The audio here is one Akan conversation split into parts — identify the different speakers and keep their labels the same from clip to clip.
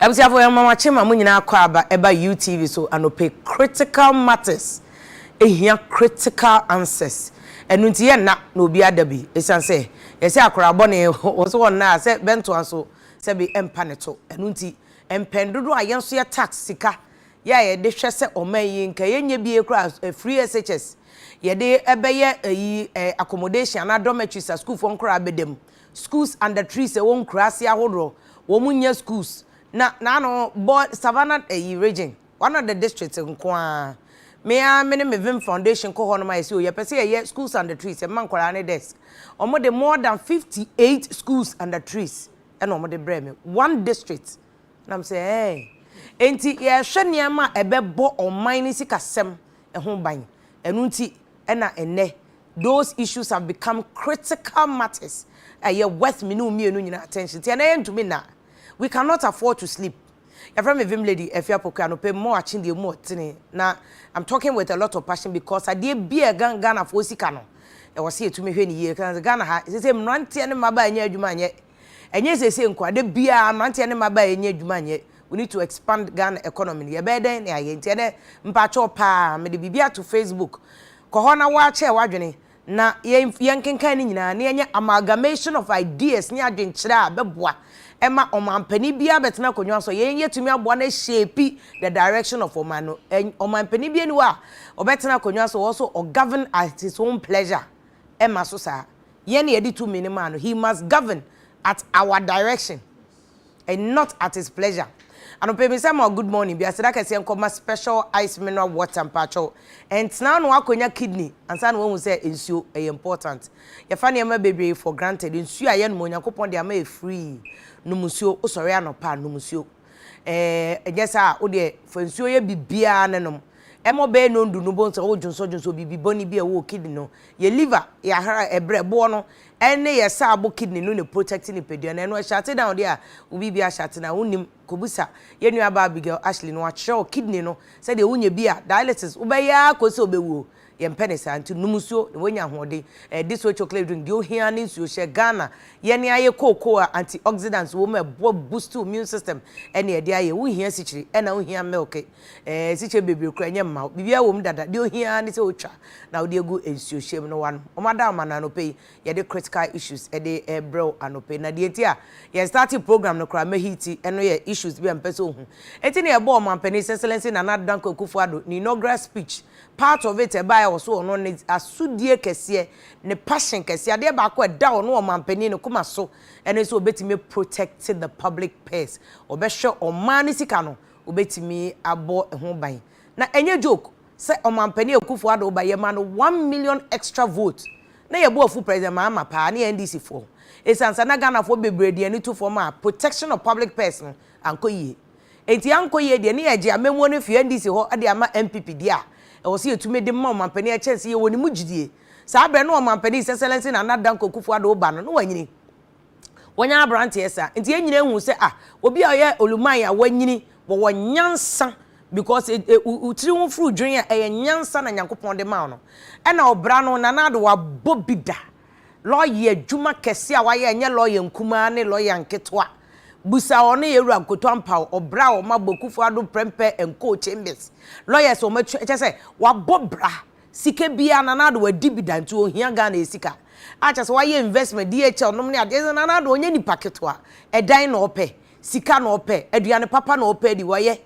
Speaker 1: Abusuafo yɛn mawakye ma mo nyinaa kɔ aba ɛba UTV so anɔpɛ critical matters ehia critical answers ɛnu nti yɛ nna na obi ada bi esan sɛ yɛsɛ akora bɔ ne wɔ so wɔ nna a sɛ bɛntoa so sɛ bi ɛmpa ne to ɛnu nti mpɛn dodo a yɛn so yɛ tax sika yɛ a yɛde hwɛ sɛ ɔman yi nka yɛnyɛ bie koraa eh, free SHS yɛde ɛbɛyɛ ayi eh, accommodation anaa dormitories a sukuufoɔ nkoraa bɛda mu schools under trees ɛwɔ nkuraase ahodoɔ wɔn nyɛ schools na n'ano bɔ savannah ayi region one of the districts nko ara me a me ne me vim foundation kɔ hɔ nom a yɛsɛ o yɛpɛ sɛ yɛyɛ schools under trees ɛma nkwaraa ne desk wɔn de more than fifty eight schools under trees ɛna wɔn de brɛ me one district Na mese, Ɛɛ. Enti yɛrehwɛ nneɛma a ɛbɛbɔ ɔman no sikasɛm ho ban. Ɛno nti na ɛnnɛ those issues have become critical matters a ɛyɛ worth me ne wo mmienu nyinaa attention. Nti ɛnnɛ yɛntumi nna. We cannot afford to sleep. Yɛfrɛ me Vim Lady Afie Apoku anɔpa mu akye deɛ mu ɔtene. Na I'm talking with a lot of passion because adeɛ biara a ɛka Ghanafoɔ sika no, ɛwɔ sɛ yɛtumi hwɛ no yie. Ɛka sɛ Ghana ha, ɛsɛ sɛ mmeranteɛ ne mmabaa nyɛ adwuma nyɛ Ɛnyɛ seesei nko a, da biara mmeranteɛ ne mmabaa yɛnyɛ adwuma nyɛ, we need to expand Ghana economy no, yɛbɛyɛ dɛn na yɛayɛ, nti ɛnɛ mpakyɛw paa mede biribi ato Facebook, kɔ hɔ na woakyɛɛ w'adwene na yɛnkenkan ne nyinaa na yɛnyɛ amalgamation of ideas ne adwenkyerɛ a ɛbɛboa ma ɔmanpanin biara bɛtena akonnwa so, yei yɛtumi aboa no ahyeepi the direction of ɔman no, ɔmanpanin biara ni hɔ a ɔbɛtena akonnwa so ɔwɔ so ɔgovern at his own pleasure, ɛmma so saa. Yɛn na yɛde tumi no maa no. He must govern at our direction and not at his pleasure. Anɔpa yi mesan ma wo good morning bi, aseda kɛseɛ nkɔma special ice mineral water mpakyɛw. Ɛntena ano akɔnya kidney ansa na woahu sɛ nsuo ɛyɛ important. Yɛfa nneɛma bebree for granted, nsuo a yɛnom, Onyankopɔn de ama yɛ free, nom nsuo, wosɔre anɔpa a nom nsuo. Ɛɛ, ɛnyɛ saa a, wo deɛ fa nsuo yɛ biribiara na nom. Ɛma ɔbɛyɛ nnɔndu no, wobɛhu sɛ wodwonsɔdwonsɔ biribi bɔne bi a ɛwɔ wo kidney no. Yɛ liver, yɛ ahra, ɛberɛ, boɔ no, ɛne yɛ saa bo kidney no na ɛprotɛkte nipadua no. Ɛno ɛhyɛate down deɛ a, wo biribi ahyɛate no a, wonnim. Kɔbisa yɛn nuabaa Abigail Ashley no, wakyerɛ wo kidney no sɛdeɛ wonya bi a, dialysis, wobɛyɛ ara kɔsi sɛ wobɛwuo. Yɛmpɛ no saa nti nom nsuo na woanya ahoɔden. Ɛyɛ this way chocolate drink deɛ ohia ara ne nsuo. Hyɛ Ghana yɛne ayɛ cocoa a anti oxidants wɔ mu a ɛboa boost wo immune system ɛne ɛde ayɛ. Wonhia sikyire ɛna wonhia milk ɛɛ sikyire bebree koraa ɛnyɛ mma wo. Biribiara wɔ mu dada deɛ ohia ara ne sɛ wotwa na wode agu nsuohyɛ mu na wanom. Wɔn ada wo mano anɔpa yi Yɛde critical issues de rebrɛ wo anɔpa yi. Na deɛ nti a yɛn startee program no koraa mɛhiti no yɛ issues bi a mepɛ sɛ ɔhu. Enti na yɛbɔɔ Ɔmanpanin His Excellency Nana Addo Dankwa Akufo-Addo ne inaugural speech, part of it a ɛbaeɛ wɔ so ɔno ne asodie kɛseɛ, ne passion kɛseɛ, adeɛ baako a ɛda ɔno Ɔmanpanin no koma so ne sɛ ɔbɛtumi a protect the public purse, ɔbɛhwɛ ɔman no sika no, ɔbɛtumi abɔ ho ban. Na ɛnyɛ joke sɛ Ɔmanpanin Akufo-Addo ba yɛma no one million extra vote, Na yɛn bo afu President Mahama paa ne yɛn NDC foɔ ɛsiane sɛ na Ghana foɔ bebree de ani to fam a protection of public purse no ankɔ yie. Ɛnti ankɔ yie deɛ ne yɛgye amammuo no afiri NDC hɔ de ama NPP deɛ a ɛwɔ sɛ yɛtumi de ma ɔmanpanin ɛkyɛn sɛ yɛwɔ ne mu gyidie. Saa berɛ no ɔmanpanin His Excellency Nana Dankwa Akufo-Addo reba no na wanyini. Wɔanya aberanteɛ saa. Nti yɛn nyinaa hu sɛ ah, obi a ɔyɛ oluman a wanyini wɔwɔ nyansa because e, e, wo tiri ho furu dwen a ɛyɛ nyansa na Nyankopɔn de ma no. Ɛna ɔbra no Nana Addo wabɔ bi da. Lɔya adwuma kɛse a wayɛ ɛnyɛ lɔya nkumaa ne lɔya nketewa. Busa wɔn ne Yɛwura Nkoto Ampaw, ɔbra a wɔn abɔ Kufuor Addo Prempeh and Co Chambers. Lɔyɛs wɔn atua kyɛ sɛ wabɔ bra. Sika biaa Nana Addo adi bi da nti ɔhia Ghana yɛ sika a kyɛsɛ wayɛ investment, DHL nom ne adeɛ ɛsɛ Nana Addo ɔnyɛ nipa ketewa, ɛdan na ɔpɛ, sika na ɔpɛ, aduane papa na ɔpɛ adi, wayɛ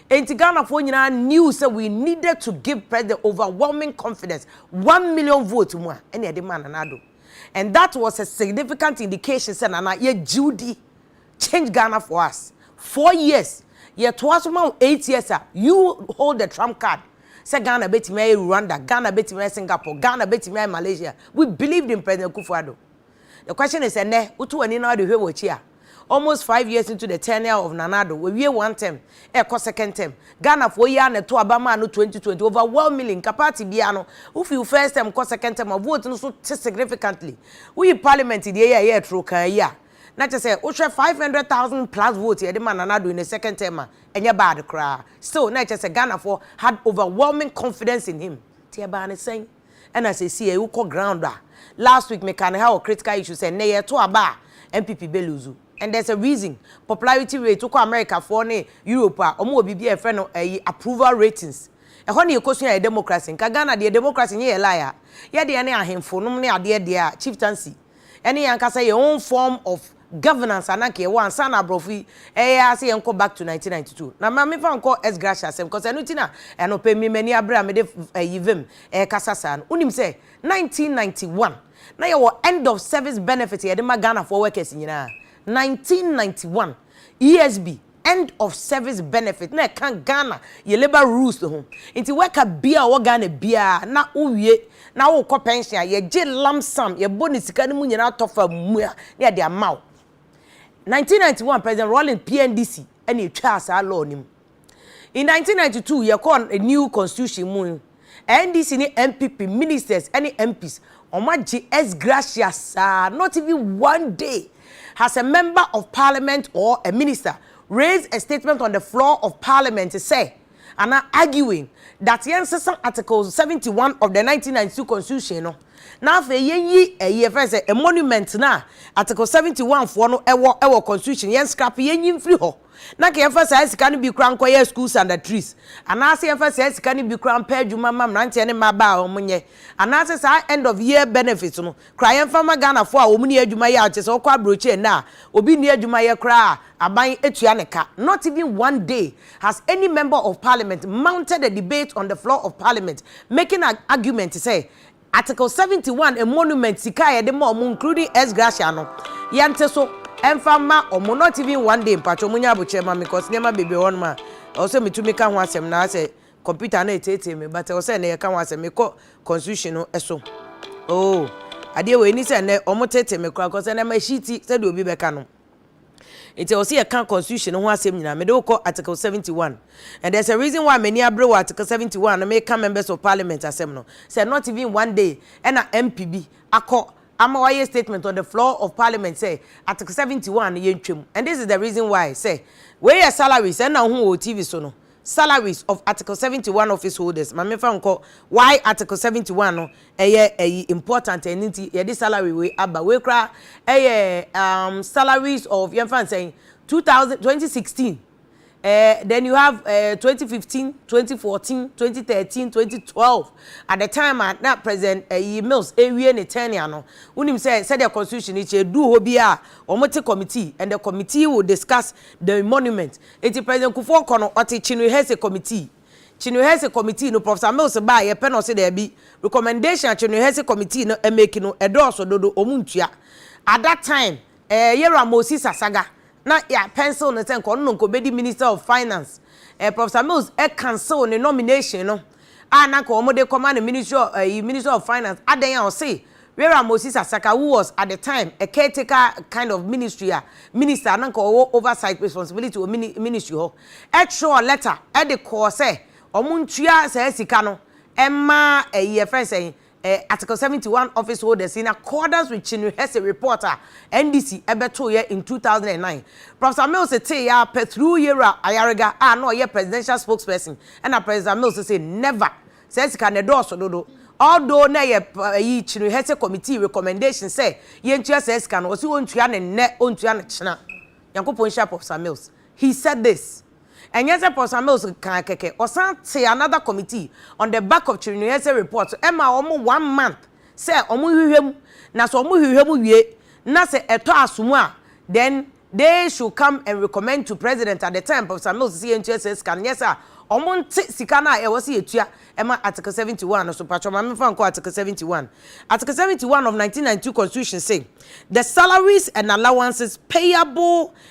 Speaker 1: Ɛnti Ghanafoɔ nyinaa knew sɛ we needed to give President overwhelming confidence one million vote mu a ɛna yɛde maa Nana Addo and that was a significant indication sɛ Nana yɛgye wo di. Change Ghana for us four years yɛtoa so ma wo eight years a you hold the trump card sɛ Ghana bɛtumi ayɛ Rwanda, Ghana bɛtumi ayɛ Singapore, Ghana bɛtumi ayɛ Malaysia we believed in President Akufo-Addo the question is ɛnɛ woto w'ani na wode hwɛ w'akyi a almost five years into the tenure of Nana Addo wawie one term ɛkɔ second term Ghanafoɔ yi ara na ɛto aba maa no 2020 overwhelmingly nka party biara no wofi wo first term kɔ second term a vote no so te significantly woyi parliament deɛ yi a ɛyɛ ɛtoro kaa yi a Na kyerɛ sɛ wohwɛ five hundred thousand plus vote yɛde ma Nana Addo in a second term a, ɛnyɛ bad koraa. Still na ɛkyerɛ sɛ Ghanafoɔ had overwhelming confidence in him. Nti ɛbaa no sɛn? Ɛna seesei wokɔ ground a, last week mekaa no ha wɔ critical issue sɛ nnɛ yɛreto aba a, NPP bɛ lose. And there's a reason. Popularity rate, wokɔ Americafoɔ ne Europe a, wɔwɔ biribi a yɛfrɛ no ɛyi approval ratings. Ɛhɔ na yɛkɔsua yɛn democracy. Nka Ghana deɛ democracy nyɛ yɛn lie a, yɛdeɛ ne ahemfo nom ne adeɛ deɛ a, chieftaincy. ɛne yɛn ankasa yɛn own form of governance a na anka yɛwɔ ansa na aborɔfo yi ɛyɛ ara sɛ yɛnkɔ back to 1992. Na ma memfa nkɔ S. Gracia asɛm cos ɛno nti na anɔpa yi me m'ani abere a mede ayi vim ɛrekasa saa no. Wonim sɛ 1991 na yɛwɔ end of service benefit a yɛde ma Ghanafoɔ workers nyinaa? 1991 ESB. End of service benefit na ɛka Ghana yɛ labour rules ho. Nti worker biaa a ɔwɔ Ghana biaa na wo wie na wo kɔ pension a, yɛ gye lump sum, yɛ bɔ ne sika no mu nyinaa atɔ fa mua na yɛ de ama wo. 1991 President Rawlings PNDC na ɛtwaa saa law no mu. In 1992 yɛ kɔɔ new constitution mu. NDC ne NPP ministers ne MPs wɔn agye ex gratia saa not even one day has a member of parliament or a minister raised a statement on the floor of parliament sɛ anaa arguing that yɛn sesa article 71 of the 1992 constitution no na afei yɛn yi ɛyi ɛfɛ sɛ a monument na article 71 foɔ no ɛwɔ ɛwɔ constitution yɛn scrap yɛn yi mfiri hɔ. na anka yɛmfa saa sika no bi koraa nkɔyɛ school sandatrice, anaasɛ yɛmfa saa sika no bi koraa mpɛ adwuma mma mmeranteɛ ne mmabaa a wɔnyɛ, anaasɛ saa end of year benefits no koraa yɛmfa mma Ghanafoɔ a wɔn nni adwuma yɛ a kyerɛ sɛ wokɔ abrɔkyire nnɛ a obi nni adwuma yɛ koraa a aban tua ne ka. Not even one day has any member of parliament mounted a debate on the floor of parliament making an argument sɛ Article seventy one emoluments sika a yɛde ma wɔn including ex gratia no yɛ nte so ɛmfa mma wɔn not even one day mpakyɛw mo nyɛ abokyerɛ ma me cos nneɛma bebree wɔ hɔ nom a ɛwɔ sɛ me tumi ka ho asɛm na asɛ computer no ɛteetee me but ɛwɔ sɛ ɛnɛ yɛ ka ho asɛm me kɔ constitution no ɛso oo adeɛ wɔ ɛni sɛ ɛnɛ wɔn teetee me koraa cos ɛnɛ ma ɛhyi ti sɛdeɛ obi bɛka no. Nti ɛwɔ sɛ yɛka constitution no ho asɛm nyinaa. Mede wo kɔ article 71. And there's a reason why m'ani abere wɔ article 71 no meka members of parliament asɛm no. Sɛ not even one day ɛna MP bi akɔ ama wayɛ statement on the floor of parliament sɛ article 71 no yɛntwam. And this is the reason why sɛ wei yɛ salaries ɛna wohu wɔ TV so no salaries of article seventy one office holders ma me nfa nkɔ why article seventy one no ɛyɛ ɛyi important ɛni nti yɛde salary wei aba wei koraa ɛyɛ um, salaries of yɛn fa nsɛn two thousand twenty sixteen ɛɛ eh, then you have ɛɛ eh, twenty fifteen twenty fourteen twenty thirteen twenty twelve at the time a na president ɛyi mills ewie ne tenure no wunim sɛ sɛdeɛ constitution yi kyɛ edu hɔ bi a wɔn te committee and the committee will discuss the monument. Enti President Kufuor kɔ no, ɔte Chinwihese Committee. Chinwihese Committee no, Professor Mills baeɛ pɛ na ɔse daabi, recommendation a Chinwihese Committee no make no, ɛdɔɔso dodo, wɔn ntua. At that time, eh, Yerah Moses Asaga na yɛ a pencil no sɛ nka ɔno na nka ɔbɛdi Minister of Finance. Eh, Professor Mills eh cancel ne nomination no. a na anka wɔde kɔma no ministry of ɛyi ministry of finance adɛn a ɔse Wera Moses Asaka who was at the time a caretaker kind of ministry a minister na anka ɔwɔ oversight responsibility wɔ mini ministry hɔ ɛtwerɛɔ letter ɛde kɔɔ sɛ wɔn ntua saa sika no ɛma ɛyi ɛfrɛ sɛn Article seventy one office holders in accordance with Chinuhese report a NDC bɛtoeɛ in two thousand and nine. Professor Mills teeɛ ara pɛ through Yewura Ayariga a na ɔyɛ presidential spokesperson ɛna Professor Mills se never, saa sika no ɛdɔɔso dodo. Although na ɛyɛ ɛyi Chinuhese committee recommendation sɛ yɛntua saa sika no, ɔse ɔntua no nnɛ, ɔntua no kyena. Nyankopɔn nhyira Professor Mills. He said this, Ɛnyɛ sɛ Professor Mills kaa kɛkɛ, ɔsan tee another committee on the back of Chirinoyese report so ɛmaa wɔn one month sɛ wɔnhwehwɛ mu na sɛ wɔhwehwɛ mu wie na sɛ ɛtɔ asom a then they should come and recommend to President at the time Professor Mills sɛ yɛntua saa sika no nyɛ sɛ a wɔnte sika no a ɛwɔ sɛ yɛtua ɛma Article 71 no so mpakyɛ ma memfa nkɔ Article 71 Article 71 of 1992 Constitution say the salaries and allowances payable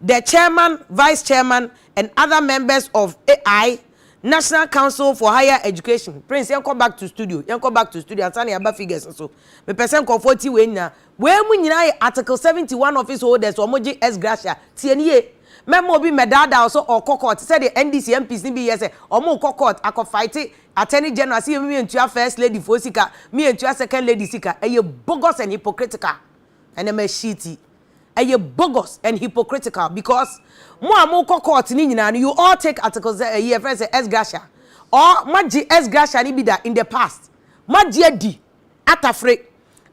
Speaker 1: The Chairman, Vice Chairman and other members of AI, National Council for Higher Education, Prince yɛnkɔ back to studio, yɛnkɔ back to studio ansa na yɛaba figures no so. Mepɛ sɛ nkurɔfoɔ tie wei nyinaa. Wei mu nyinaa yɛ Article 71 office holders a wɔgye ex gratia. Tie no yie. Mɛma obi mmɛdaadaa wo sɛ ɔrekɔ court sɛdeɛ NDC MPs no bi yɛ sɛ wɔrekɔ court akɔ fight Attorney General sɛ yɛn mentua First Lady foɔ sika, mentua Second Lady sika. Ɛyɛ bogus and hypocritical. Ɛnɛma sheet yi ɛyɛ bogus and hypocritical because mo a mo kɔ court no nyinaa no you all take article sɛ ɛyi yɛfrɛ sɛ ex gratia or moagye ex gratia no bi da in the past moagye adi atafere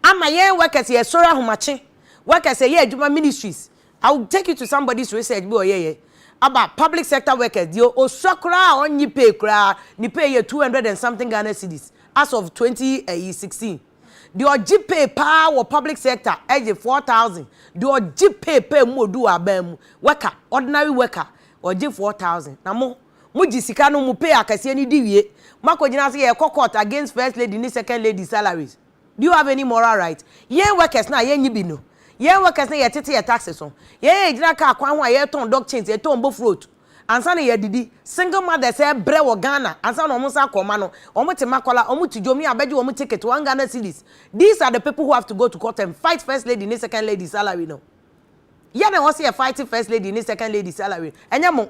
Speaker 1: ama yɛn workers yɛ sɔre ahomakye workers ɛyɛ adwuma ministries I will take you to somebody's research bi ɔyɛ yɛ aba public sector workers deɛ osua koraa a ɔnye pay koraa ne pay yɛ 200 and something Ghana cedis as of 2016. Deɛ ɔgye pay paa wɔ public sector gye four thousand, deɛ ɔgye pay paa mu odu wɔ aban mu, worker, ordinary worker, ɔgye four thousand. Na mo, mo gye sika no mo pay akɛseɛ no di wie, mo akɔgyina sɛ yɛrekɔ court against first lady ne second lady salaries. Do you have any moral right? Yɛn workers no a yɛnnye bi no, yɛn workers no a yɛtete yɛn taxes ho, yɛn a yɛgyina car kwan ho a yɛretɔn dog chains, yɛtɔn bofroot, Ansa na yɛadidi. Single mothers rebrɛ wɔ Ghana ansa na wɔn nsa akɔ mma no. Wɔn te Makola, wɔn te Dwom, yɛ a bɛgye wɔn ticket one Ghana cedis. These are the people who have to go to court and fight first lady ne second lady salary no. Yɛ na ɛwɔ sɛ yɛ fight first lady ne second lady salary no. Ɛnyɛ mo.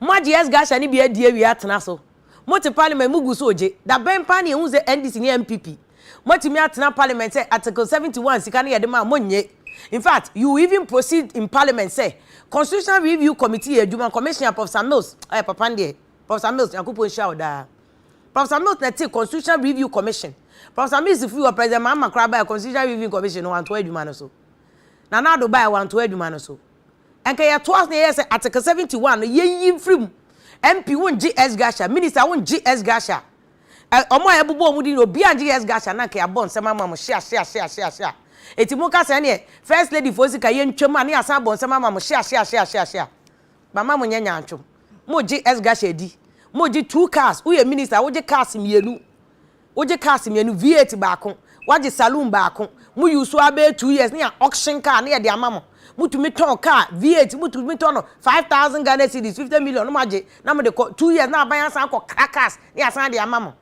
Speaker 1: Moagye yɛn sgasha no bi adi awie atena so. Mote parliament mo gu so ogye. Da bɛn paa na yɛhu sɛ NDC ne NPP moatumi atena parliament sɛ article 71 sika no yɛde maa monnye. In fact you even proceed in parliament sɛ constitutional review committee yɛ adwuma commissioner Professor Mills ɔyɛ papa no deɛ Professor Mills Nyankopɔn nhyira wo daa. Professor Mills na ɛtee constitutional review commission. Professor Mills firi hɔ President Mahama koraa baeɛ constitutional review commission no wantoa adwuma no so. Nana Addo baeɛ wantoa adwuma no so. Anka yɛtoa so na yɛyɛ sɛ Article 71 no yɛyi mfiri mu. MP wongye S. Gahsha, Minister wongye S. Gahsha, ɛ, wɔn a yɛbobɔ wɔn din no obiara ngye S. Gahsha na anka yɛabɔ nsɛm ama mo hyeahyeahyeahyeahyea. Enti moka sɛ ɛneɛ First Lady foɔ sika yɛntwam a ne yɛasan abɔ nsɛm ama mo hyeahyeahyeahyeahyea. Mama monyɛ nyaatwom. Mogye S. Gahsha di. Mogye two cars, woyɛ Minister wogye cars mmienu. Wogye cars mmienu, V8 baako, woagye saloon baako, mo use so ara bɛyɛ two years na yɛn auction car na yɛde ama mo. Motumi tɔn car, V8 motumi tɔ no five thousand Ghana cedis, fifty million, na moagye na mode kɔ, two years na aban asan akɔ kra cars na yɛasan de ama mo.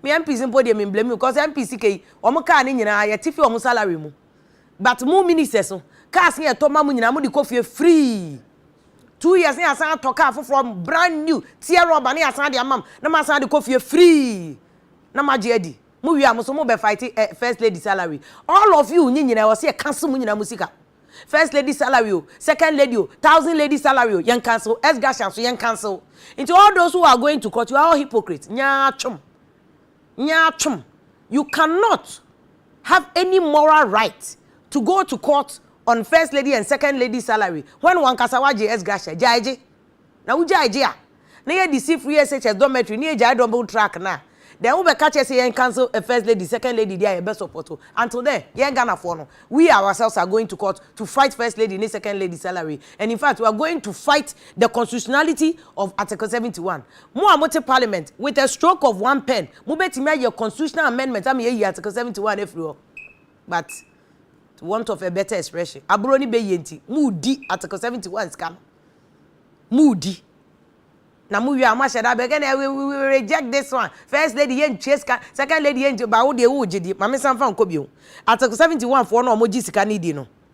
Speaker 1: Me MPs mpo deɛ me mblame you cos MP sika yi, wɔn car no nyinaa yɛte fi wɔn salary mu. but mo ministers no cars ne ɛtɔ ma mo nyinaa mo de kɔ fie free two years ne yɛasan atɔ car foforɔ brand new tear rubber ne yɛasan de ama mo na mo asan de kɔ fie free na mo agye adi mo wie a mo so mo bɛ fight eh, first lady salary all of you nye nyinaa ɛwɔ se yɛ cancel mo nyinaa mo sika first lady salary o second lady o thousand lady salary o yɛn cancel ex gratia so yɛn cancel nti all those who are going to court you are all hypocrites nyaa twom. Nyaatwom, you cannot have any moral right to go to court on first lady and second lady salary when wankasa wagye ex gratia. Gyae gye. Na wo gyae gye a, na yɛ de si free SHS dormitory ne yɛ gyae double track no a, then wo bɛ ka kyerɛ sɛ yɛn cancel a first lady, second lady deɛ a yɛ bɛ support o. Until then, yɛn Ghanafoɔ no, we ourselves are going to court to fight first lady ne second lady salary and in fact we are going to fight the constitutionality of article 71. Mo a mote Parliament, with a stroke of one pen, mobɛtumi ayɛ constitutional amendment ama yɛayi Article 71 afiri hɔ. But, to want of a better expression, aborɔ ne bɛyie nti, moredi Article 71 sika no. Moredi. Na mowie a, moahyɛ da bɛka na we, we, we reject this one. First lady yɛntua sika, second lady yɛntua, ba wo deɛ wogye di, ma mensan mfa nkɔ bio. Article 71 foɔ no a wɔgye sika no di no,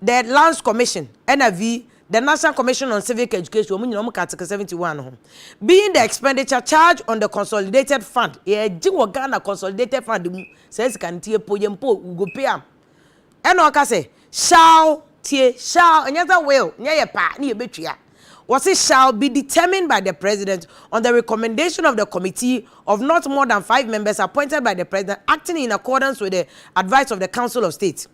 Speaker 1: The Lands Commission, NIV, The National Commission on Civic Education, wɔn nyinaa wɔka Article 71 no ho. Being the expenditure charged on the consolidated fund, yɛgye wɔ Ghana consolidated fund mu, saa sika no nti yɛpɔ yɛn mpo, we go pay am. Ɛna ɔka sɛ, shall, tie, shall, ɛnyɛ sɛ will, nyɛ yɛ paa ne yɛbɛtua. Wɔse shall be determined by the president on the recommendation of the committee of not more than five members appointed by the president acting in accordance with the advice of the council of state.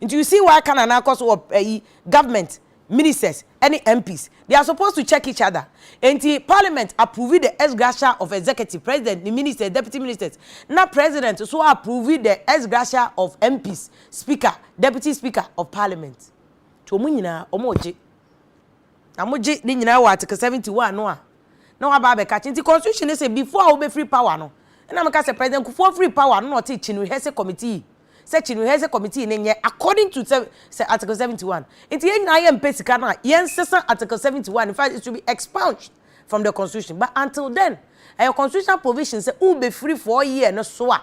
Speaker 1: Nti you see why Canaan akɔ so wɔ ayi government, ministers ɛne MPs. They are supposed to check each other. Nti parliament approve the ex gratia of executive, president ne ministers, deputy ministers, na president nso approve the ex gratia of MPs, speaker, deputy speaker of parliament. Nti wɔn nyinaa wɔregye. Na wɔgye ne nyinaa wɔ article 71 no a na waba abɛka kye. Nti constitution no sɛ before a wobɛfiri power no, ɛna meka sɛ president Kufuor firi power no na ɔte kyi no rehearse committee. sɛ Chinwiheze committee no nyɛ according to sɛ sɛ article seventy one nti yɛn nyinaa yɛn mpɛ sika no a yɛn sesa article seventy one in fact it should be expunged from the constitution but until then ɛyɛ constitutional provision sɛ wo bɛ firi four year no so a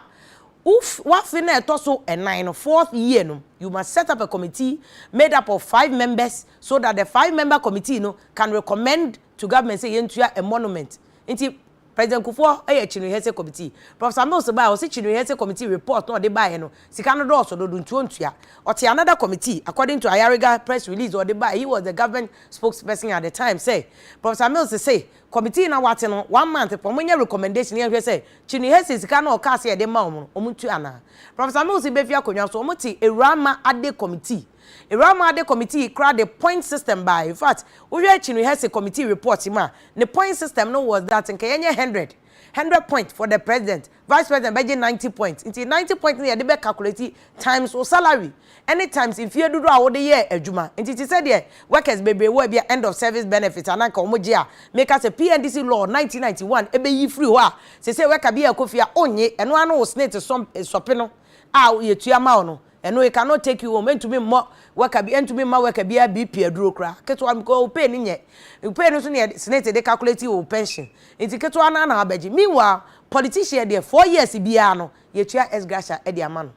Speaker 1: wo wafe na ɛtɔ so ɛnan no fourth year no you must set up a committee made up of five members so that the five member committee no can recommend to government sɛ yɛntua emolument nti President Kufuor yɛ Chinwe Hesse Committee. Professor Mills baeɛ a ɔse Chinwe Hesse Committee report no a ɔde baeɛ no sika no dɔɔso dodo nti ɔntua. Ɔte another committee according to Ayariga press release a ɔde baeɛ he was the government spokesperson at the time sɛ Professor Mills se committee no a wɔate no one month pɛ wɔnyɛ recommendation na yɛnhwɛ sɛ Chinwe Hesse sika no a ɔkaa sɛ yɛde mma wɔn no wɔntua anaa. Professor Mills bɛfiri akonnwa so wɔte Awuraa Mma Ade Committee. Eramade committee koraa de point system bae infact wohwɛ Chinwe Hesse committee report mu a ne point system no was that nka yɛnyɛ hundred hundred point for the president vice president bɛgye ninety point nti ninety point no yɛde bɛ calculate times wo salary ɛne times mfie dodoɔ a wode yɛɛ adwuma nti te sɛ deɛ workers bebree wɔ ebia end of service benefit anaa nka wɔn gye a meka sɛ PNDC law nineteen ninety one ɛbɛyi firi hɔ a sese worker bi a ɛkɔ fie a onnye ɛno ano wo snate sɔpe no a yɛtua ma wo no Ɛno he cannot take you home, entumi mmɔ worker bi, entumi mma worker biaa BP aduro koraa, ketewa no, because wo pay no nyɛ, wo pay no so ne senate de calculate wo pension, nti ketewa no ara na wabɛgye. Meanwhile, politician deɛ, four years biaa no, yɛtua ex gratia de ama no.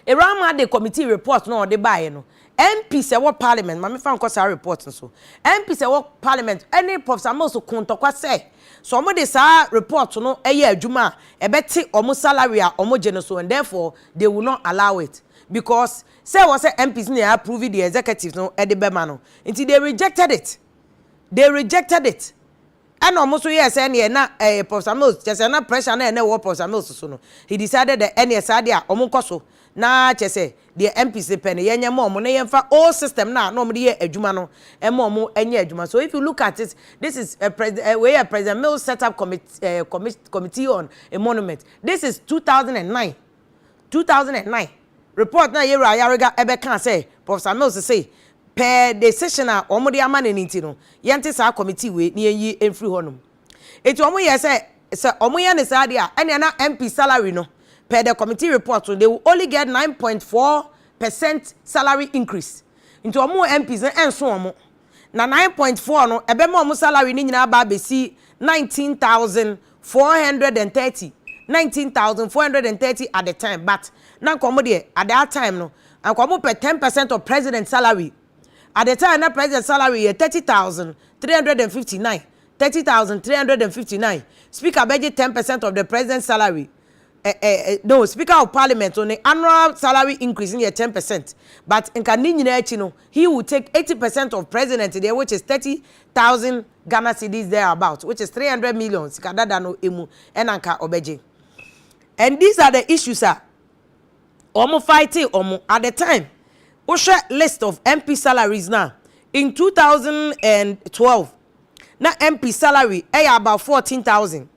Speaker 1: Awuraa Mah de committee report no a ɔde baeɛ no, MPs a ɛwɔ parliament, ma memfa nkɔ saa report no so, MPs a ɛwɔ parliament ne Professor Mills koo ntɔkwa sɛ, sɛ wɔde saa report no yɛ adwuma a, ɛbɛte wɔn salary a wɔgye no so, and therefore, they will not allow it because sɛ ɛwɔ sɛ MPs na approve the executives no ɛde bɛma no nti they rejected it they rejected it ɛna wɔn nso yɛɛ sɛ ɛneɛ na ɛyɛ Professor Mills kyɛ sɛ na pressure na ɛna ɛwɔ Professor Mills so no he decided that ɛneɛ saa deɛ a wɔn nkɔ so na kyɛ sɛ deɛ MPs no pɛ no yɛnyɛ ma wɔn na yɛmfa old system na na wɔn de yɛ adwuma no ɛma wɔn nyɛ adwuma so if you look at it this is a president wei yɛ President Mills set up committee, uh, committee on a monument This is two thousand and nine two thousand and nine report no a Yero Ayariga bɛkaa sɛ Professor Mills se per decision a wɔde ama no no nti no, yɛnte saa committee wei na yɛnyi mfiri hɔnom. Enti wɔyɛɛ sɛ sɛ wɔyɛ no saa deɛ a, ɛnea na MP salary no per the committee report no, they will only get nine point four percent salary increase. Nti wɔn MPs no ɛnso wɔn na nine point four no, ɛbɛma wɔn salary no nyinaa aba abɛsi nineteen thousand four hundred and thirty, nineteen thousand four hundred and thirty at the time, but na nka wɔn deɛ at that time no, anka wɔn pɛ ten percent of president salary. At the time na president salary yɛ thirty thousand three hundred and fifty nine, thirty thousand three hundred and fifty nine, speaker bɛgye ten percent of the president salary. Eh, eh, eh, no, speaker of parliament no ne annual salary increase no yɛ ten percent, but nka ne nyinaa akyi no, He will take eighty percent of president deɛ which is thirty thousand Ghana cedis there about which is three hundred million sika dada no emu ɛna nka ɔbɛgye and these are the issues a wɔn fighting wɔn at the time wohwɛ list of MP salaries na in two thousand and twelve na MP salary ɛyɛ about fourteen thousand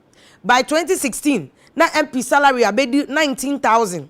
Speaker 1: by twenty sixteen na MP salary abɛdi nineteen thousand.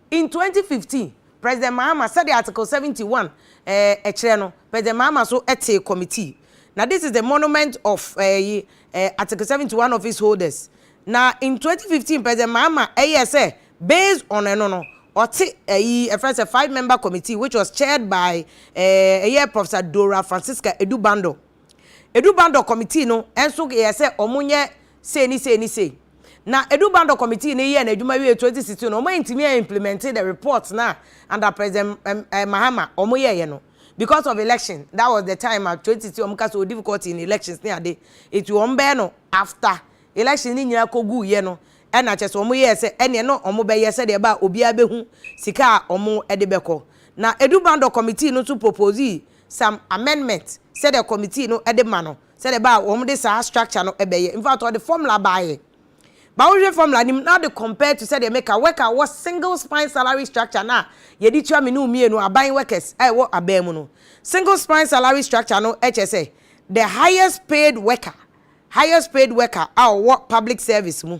Speaker 1: In twenty fifteen, President Mahama, sɛdeɛ Article seventy one eh, kyerɛ no, President Mahama so tee committee. Na this is the monument of eh, yi, eh, Article seventy one office holders. Na in twenty fifteen, President Mahama ɛyɛɛ sɛ based on ɛno no, ɔte ɛyi eh, ɛfrɛ sɛ five member committee which was chaired by eh, ɛyɛ Professor Dorah Francisca Edu Bando. Edu Bandɔ Committee no nso yɛɛ sɛ ɔmo nyɛ sei ne sei ne sei. Na Edu Bandɔ Committee no yɛɛ n'adwuma wiee 2016 no, ɔmo antumi a implementer the report no a under President ɛm ɛɛ Mahama ɔmo yɛɛyɛ no because of election, that was the time a 2016 ɔmo ka sɛ ɔwɔ difficulty in elections ne ade, nti ɔmo bɛyɛ no after elections no nyinaa kɔ guu yɛ no ɛna kyerɛ sɛ ɔmo yɛɛ sɛ ɛneɛ na ɔmo bɛyɛ sɛdeɛ ɛbɛa obiara bɛhu sika a ɔmo ɛde bɛkɔ. Na Edu Bandɔ Committee no nso proposee some amendment sɛdeɛ committee no de ma no sɛdeɛ ɛbɛ a wɔn de saa structure no bɛyɛ in fact ɔde formula baayɛ ba wohwɛ formula no mu na ɔde compare to sɛdeɛ meka work a wɔ single spine salary structure no a yɛde tua me ne mmienu aban workers a ɛwɔ aban mu no single spine salary structure no kyɛ sɛ the highest paid worker highest paid worker a ɔwɔ public service mu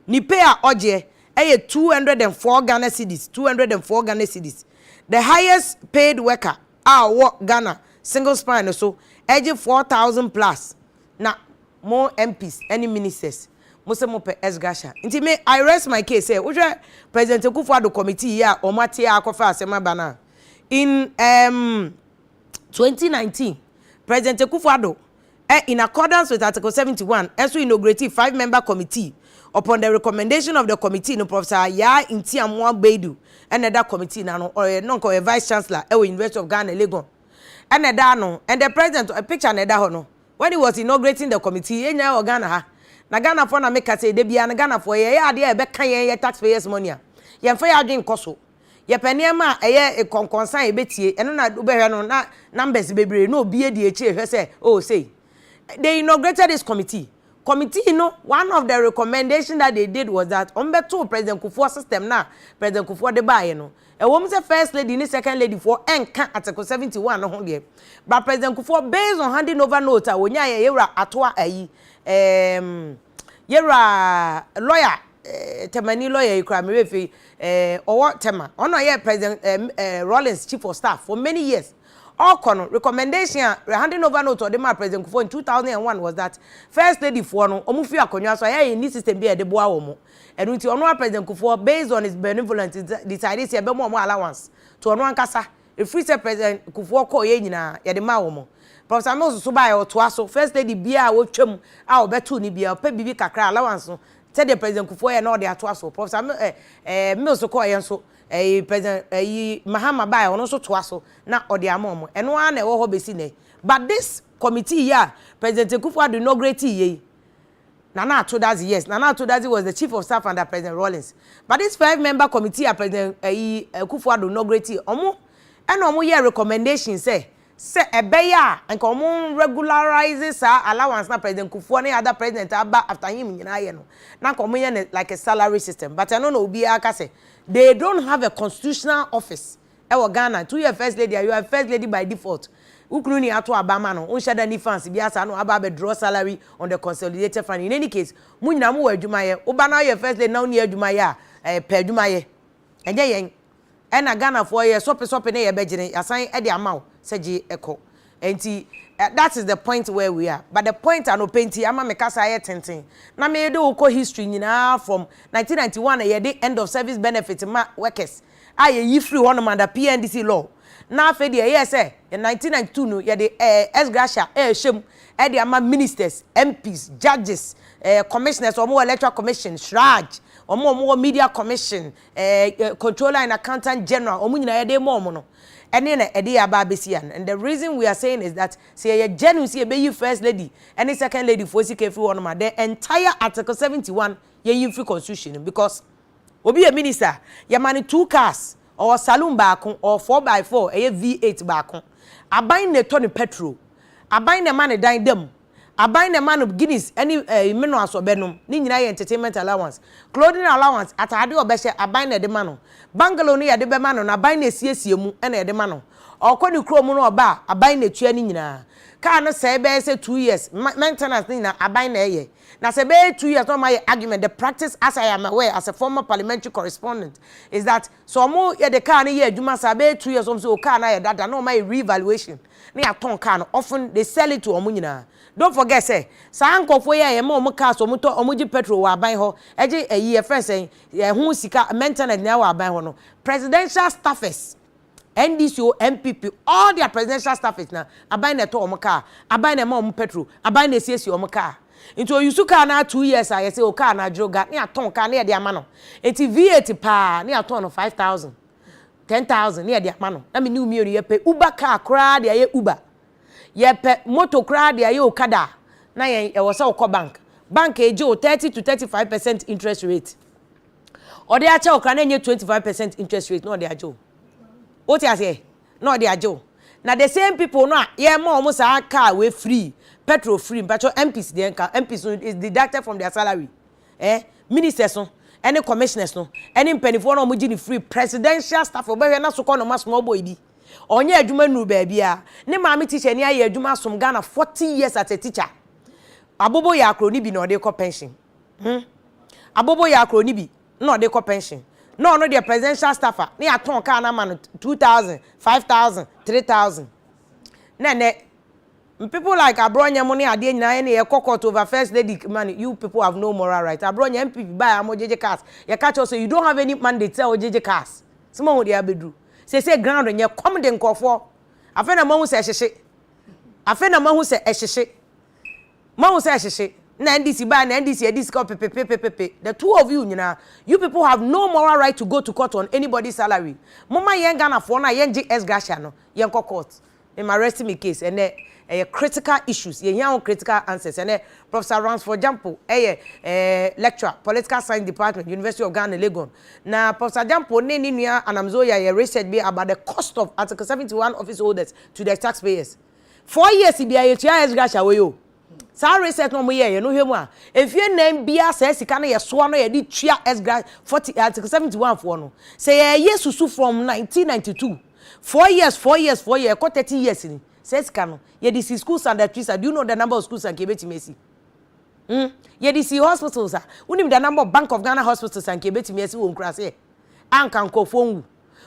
Speaker 1: ne pay a ɔgyeɛ ɛyɛ 204 Ghana cedis 204 Ghana cedis the highest paid worker a ɔwɔ Ghana single spine no so ɛgye four thousand plus na mo MPs ɛne ministers mo se mo pɛ Esgasha nti me I rest my case sɛ wohwɛ President Akufo Addo committee yi a wɔn ate a akɔfa asɛm aba no a in um twenty nineteen President Akufo Addo ɛ in accordance with Article seventy one nso inaugurateeɛ five member committee upon the recommendation of the committee no Professor Yaa Ntiamoa Baidu ɛna ɛda committee no ano ɔyɛ na ɔyɛ vice chancellor ɛwɔ University of Ghana Legon ɛna ɛda ano and the president a picture na ɛda hɔ no when he was inaugurating the committee yɛn nyinaa wɔ Ghana ha na Ghanafoɔ na meka sɛ ɛda biara no Ghanafoɔ yɛyɛ adeɛ a ɛbɛka yɛn yɛ taxpayers money a yɛmfa yɛn adwene nkɔ so Yɛpɛ nneɛma a ɛyɛ nkɔnkɔnsa a yɛbɛtie, ɛno na wobɛhwɛ no na numbers bebree na obiara di akyire hwɛ sɛ oh sei. They inaugurated this committee. Committee no one of the recommendation that they did was that wɔn bɛtoo President Kufuor system no a President Kufuor de baeɛ no. Ɛwɔ mu sɛ First Lady ne Second Lady foɔ ɛnka Article 71 no ho deɛ, but President Kufuor based on handing over note a ɔnyaeɛ a yɛwura Attoa ayi ɛɛm, Yɛwura lɔya eh, Tɛmani lɔya yi koraa, me werɛ fi, eh, ɔwɔ Tɛma. Ɔno na ɔyɛ President eh, eh, Rawlings chief of staff for many years. Ɔkɔ no, recommendation a, handing over note ɔde maa President Kufuor in 2001 was that First Lady foɔ no, wɔn fi akonnwa so a, yɛyɛ yɛnni system bi a yɛde boa wɔn. Ɛno nti, ɔno ara President Kufuor, based on his benevolence, decide sɛ yɛbɛma wɔn allowance to ɔno ankasa. Ɛfiri sɛ President Kufuor kɔeɛ nyinaa, yɛde maa wɔn. Professor Mills nso baeɛ, ɔtoa so. First Lady biara a ɔtwam a ɔbɛtoo no biara, ɔpɛ biribi kakra, allowance no, sɛdeɛ President Kufuor yɛ na ɔde atoa so. Professor Mil, eh, eh, Mills kɔeɛ nso, eh, President, eh, yi, Mahama baeɛ, ɔno nso toa so na ɔde ama wɔn. Ɛno ara na ɛwɔ hɔ bɛsi nnɛ. But this committee yi a President Kufuor Addo inaugurateeɛ yi, Nana Ato Dadzie, Yes, Nana Ato Dadzie was the Chief of Staff under President Rawlings. But this five member committee a President ayi Akuffo Addo inaugurate yi, wɔn na wɔn yɛɛ recommendation sɛ, sɛ ɛbɛyɛ a nka wɔn regularize saa allowance na President Kuffua ne other President a aba after him nyinaa yɛ no, na nka wɔn yɛ no like a salary system. But ɛno na obiara ka sɛ, they don't have a constitutional office Ɛwɔ Ghana to yɛ first lady a you are a first lady by default wo kunu ni ato aba ama no wonhyɛ da ni fans biara saa no aba abɛ draw salary on the consolidated fund in any case mo nyinaa mo wɔ adwuma yɛ wo ba no ayɛ first lady na wonni adwuma yɛ a ɛɛ pɛ adwuma yɛ ɛnyɛ yɛn ɛna Ghana foɔ yɛ sɔpe sɔpe ne yɛ bɛ gyene yasan ɛde ama wo sɛ gye ɛkɔ ɛnti that is the point where we are but the point anɔpɛ nti ama me kasa ayɛ tenten na me de wo kɔ history nyinaa from 1991 yɛ de end of service benefit ma workers a yɛyi firii hɔnom under PNDC law, na afei deɛ ɛyɛɛ sɛ in 1992 no yɛde eh, ex gratia ɛrehyɛ mu ɛde ama ministers, MPs, judges, eh, commissioners a wɔwɔ electoral commission, shraj, wɔn a wɔwɔ media commission, eh, eh, controller and accountant general, wɔn nyinaa yɛde rema wɔn no, ɛne na ɛde yɛ aba abɛsi ano. And the reason we are saying is that sɛ yɛyɛ genuine sɛ yɛbɛyi first lady ɛne second lady foɔ sika afiri hɔnom a, the entire article 71 yɛnyi mfiri constitution no mu because Obi yɛ minister a, yɛma no two cars, ɔwɔ saloon baako, ɔwɔ four by four, ɛyɛ V8 baako. Aban na ɛtɔ no petrol. Aban na ɛma no dan da mu. Aban na ɛma no Guinness ne eh, Minoas a ɔbɛnom. Ne nyinaa yɛ entertainment allowance. Clothing allowance, ataadeɛ a ɔbɛhyɛ, aban na ɛde ma no. Bungalow no yɛde bɛma no na aban na ɛsiesie mu na yɛde ma no. Ɔkɔ ne kurom no ɔba a, aban na ɛtua ne nyinaa. Car no sɛe bɛyɛ sɛ two years, maintenance ne nyinaa, aban na ɛyɛ. Na sɛ ɛbɛyɛ two years na wɔn ayɛ argument, the practice as I am aware as a former parliamentary correspondent is that sɛ wɔn yɛ de car no yɛ adwuma saa ɛbɛyɛ two years wɔn sɛ o car no ayɛ dada na wɔn ayɛ re-evaluation na yɛatɔn car no often they sell it to wɔn nyinaa don't forget sɛ saa nkorɔfoɔ yi a yɛma wɔn cars wɔn tɔ wɔn gye petrol wɔ aban hɔ ɛgye ayi yɛfrɛ sɛn ɛho sika maintenance nyinaa wɔ aban hɔ no presidential staffers NDC o, NPP o, all their presidential staffers na aban na ɛtɔ wɔn car, aban na ɛma wɔn petrol, aban na ɛsiesie wɔn car. Nti ɔuse car no ara two years a yɛse o car no adwere ga ne yɛatɔn car ne yɛde ama no. Nti V8 paa ne yɛatɔn no five thousand, ten thousand ne yɛde ama no. Na me ne wo mmienu yɛpɛ Uber car koraa de ayɛ Uber, yɛpɛ motor koraa de ayɛ Okada a, na yɛn ɛwɔ sɛ wokɔ bank. Bank ɛgye wo thirty to thirty five percent interest rate. Ɔde akyɛ wo koraa na ɛnyɛ twenty five percent interest rate na ɔde agye wo. Wote aseɛ? Na ɔde agye wo. Na the same people no a yɛma wɔn saa car wei free, petrol free, mpatsɔ MPs deɛ nka MPs no is deducted from their salary. Eh, ministers no, ɛne commissioners no, ɛne mpanimfoɔ no a wɔgye no free, presidential staff, wobɛhwɛ na sokɔ noma small boy bi. Ɔnyɛ adwuma nnuru baabiara. Ne maame teacher ni ayɛ adwuma asom Ghana forty years as a teacher. Abobo yɛ akoro ne bi na ɔde kɔ pension. Hmm. Abobo yaa koro ne bi na ɔde kɔ pension. Na ɔno deɛ presidential staffer na yɛatɔn kaa no ama no two thousand, five thousand, three thousand. Na ɛnɛ people like Aborɔnyɛ mo ne adeɛ nyinaa yɛne yɛkɔ court over first lady money you people have no moral right. Aborɔnyɛ NPP baeɛ a mogyegye cars yɛka kyerɛ wo sɛ you don't have any mandate sɛ wogyegye cars. Sɛ moahu deɛ abɛduru. Seesei ground nyɛ kɔm de nkurɔfoɔ. Afei na moahu sɛ ɛhyehye. Afei na moahu sɛ ɛhyehye. Moahu sɛ ɛhyehye? Na NDC bae na NDC adi sika ɔpepepepepepe. The two of you nyinaa, you people have no moral right to go to court on anybody's salary. Momma yɛn Ghanafoɔ no a yɛngye ex gratia no, yɛnkɔ court. Mema rest me case. Ɛnnɛ, ɛyɛ critical issues. Yɛhia ho critical answers. Ɛnnɛ, Professor Ransford Gyampo yɛ eh, lecturer, Political Science Department, University of Ghana, Legon. Na Professor Gyampo ne ne nua Anam Zoya yɛ research bi about the cost of Article 71 office holders to the taxpayers. Four years bia yɛtua Esdras away o. Saa reset na ɔmo yɛɛyɛ no hwɛ mu a, mfie nan bia saa sika no yɛsoa no yɛde tua Esdras 40 Article 71 foɔ no. Sɛ yɛɛyɛ susu from 1992, four years, four years, four years, ɛkɔ 30 years ni, saa sika no, yɛde si schools and trees a, do you know the number of schools a nka yɛbɛtumi asi? Hmm, yɛde si hospitals a, wonim the number of Bank of Ghana hospitals a nka yɛbɛtumi asi wɔ nkuraseɛ a nka nkorɔfoɔ nwu?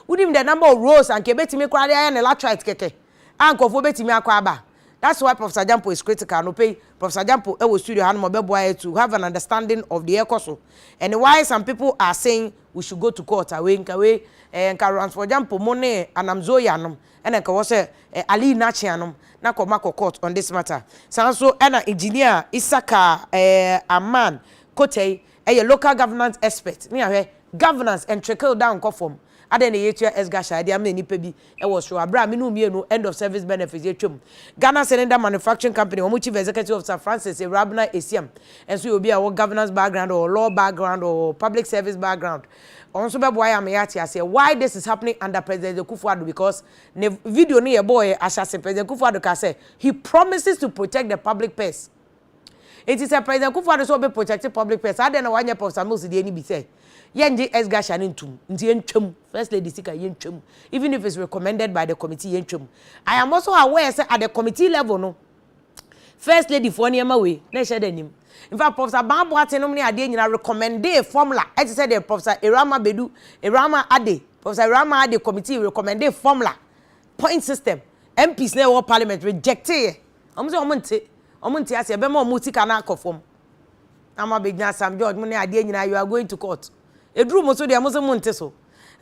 Speaker 1: Wonim the number of roads a nka yɛbɛtumi koraa de ayɛ ne latrite kɛkɛ a nkurɔfoɔ bɛtumi akɔ aba. That's why Professor Agyampo is critical. Anɔpa yi, Professor Agyampo wɔ studio ha nom, ɔbɛboa yɛ to have an understanding of deɛ ɛrekɔ so and why some people are saying we should go to court. A wei, nka wei, eh, nka Ransford Agyampo mo ne Anam Zoya nom ɛna nka ɛwɔ sɛ eh, Ali Nakyea nom na kɔ ma kɔ court on this matter. Saa nso ɛna Engineer Isaka eh, Aman Kotei ɛyɛ local governance expert ne ahwɛ governance and trickle down nkɔ fam. Adɛn na yɛtua sgasha de amena nnipa bi wɔ soro a bere a me ne wo mmienu end of service benefits yɛtwam? Ghana Cylinder Manufacturing Company wɔn Chief Executive Officer Francis Ewurabena Esiam nso yɛ obi a ɔwɔ governance background ɔwɔ law background ɔwɔ public service background ɔno nso bɛboa yɛn ama yɛate aseɛ why this is happening under President Akufo Addo because ne video no yɛbɔɔɛ ahyɛase President Akufo Addo kaa sɛ he promises to protect the public purse Enti sɛ President Kufuor-Addo sɛ ɔbɛ protect public purse a, adɛn na wanyɛ Professor Mills deɛ no bi sɛ, yɛngye Ex Garcia no ntom, nti yɛntwa mu, First Lady sika yɛntwa mu, even if it's recommended by the committee yɛntwa mu. I am also aware sɛ at the committee level no, First Lady foɔ nneɛma wei, na ɛhyɛ da nnim. In fact, Professor Abang Boateng nom ne adeɛ nyinaa recommendee formula, ɛte sɛ deɛ Professor Irama Bedu, Irama Ade, Professor Irama Ade committee recommendee formula, point system, MPs no a ɛwɔ Parliament rejecteeɛ. Wɔn sɛ wɔn nte, wɔn nte aseɛ, ɛbɛma wɔn sika no akɔ fam. Na mo abɛgyina Sam George, mo ne adeɛ nyinaa, you are going to court. Ɛduru mo so deɛ, mo se mo nte so.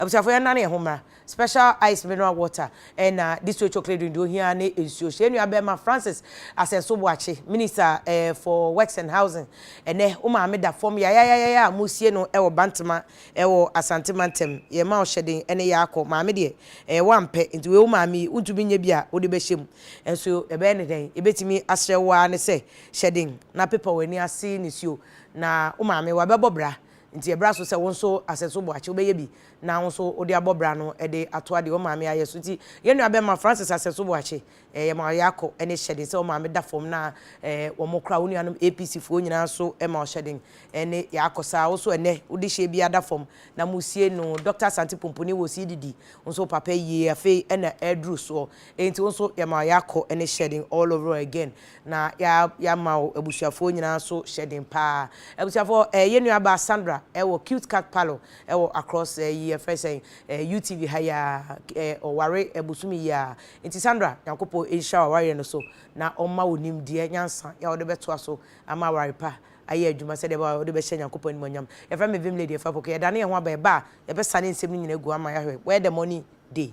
Speaker 1: Abusuafoɔ yɛnnane yɛn ho mmra. Special ice mineral water ɛna distilled chocolate drink deɛ ohia ara ne nsuo. Hyɛ yɛn nua bɛrima Francis Asɛnso Boakye, Minister eh, for Works and Housing. Ɛnɛ, wo maame da fam yayayayaya a moresie no wɔ Bantama wɔ Asante mantam. Yɛma ɔhyɛden ne yɛ akɔ. Maame deɛ, ɛyɛ wo a mpɛ, nti wei wo maame yi, wontumi nyɛ bi a wode bɛhyɛ mu. Nanso ɛbɛyɛ no dɛn? Yebetumi asrɛ wo ara ne sɛ, hyɛ den na pepa w'ani ase nisuo. Na wo maame, wabɛbɔ bra, enti ɛbra so sɛ wo nso asɛ so boakye wobɛyɛ bi na wo nso wode abɔ bra no de atoa deɛ wo maame ayɛ so. Enti yɛn nua bɛma Francis asɛ so boakye. Ɛɛ yɛma ɔyɛ akɔ ne hyɛ den sɛ wo maame da fam na ɛɛ wɔn kora wo nuanom APC foɔ nyinaa nso ma ɔhyɛ den ne yɛ akɔ saa. Wo nso ɛnnɛ wode hyɛ biara da fam na moresie no. Doctor Asante Pomponi wɔ Siididi, wo nso wo papa yie afei na ɛreduru soɔ. Enti wo nso yɛma yɛakɔ ne hyɛden all over again na yɛama wo abusuafoɔ nyinaa nso hyɛden paa. Abusuafoɔ ɛɛ yɛn nuabaa Sandra ɛwɔ Cute Cat Parlour ɛwɔ across ɛyi yɛfrɛ ne sɛn ɛɛ UTV ha yi ara ɛɛ ɔware ɛbosome yi ara nti Sandra Nyankopɔn nhyira w'awareɛ no so na ɔmma wo nimdeɛ nyansa yɛ a wode bɛtoa so ama aware pa ayɛ adwuma sɛdeɛ ɛbɛyɛ a wode bɛhyɛ Nyankopɔn animuonyam. Yɛfrɛ me Vim Lady Afrapoko. Yɛdane yɛn ho aba yɛba a yɛbɛsane nsɛm no nyinaa agu ama yɛahwɛ. Where the money dey?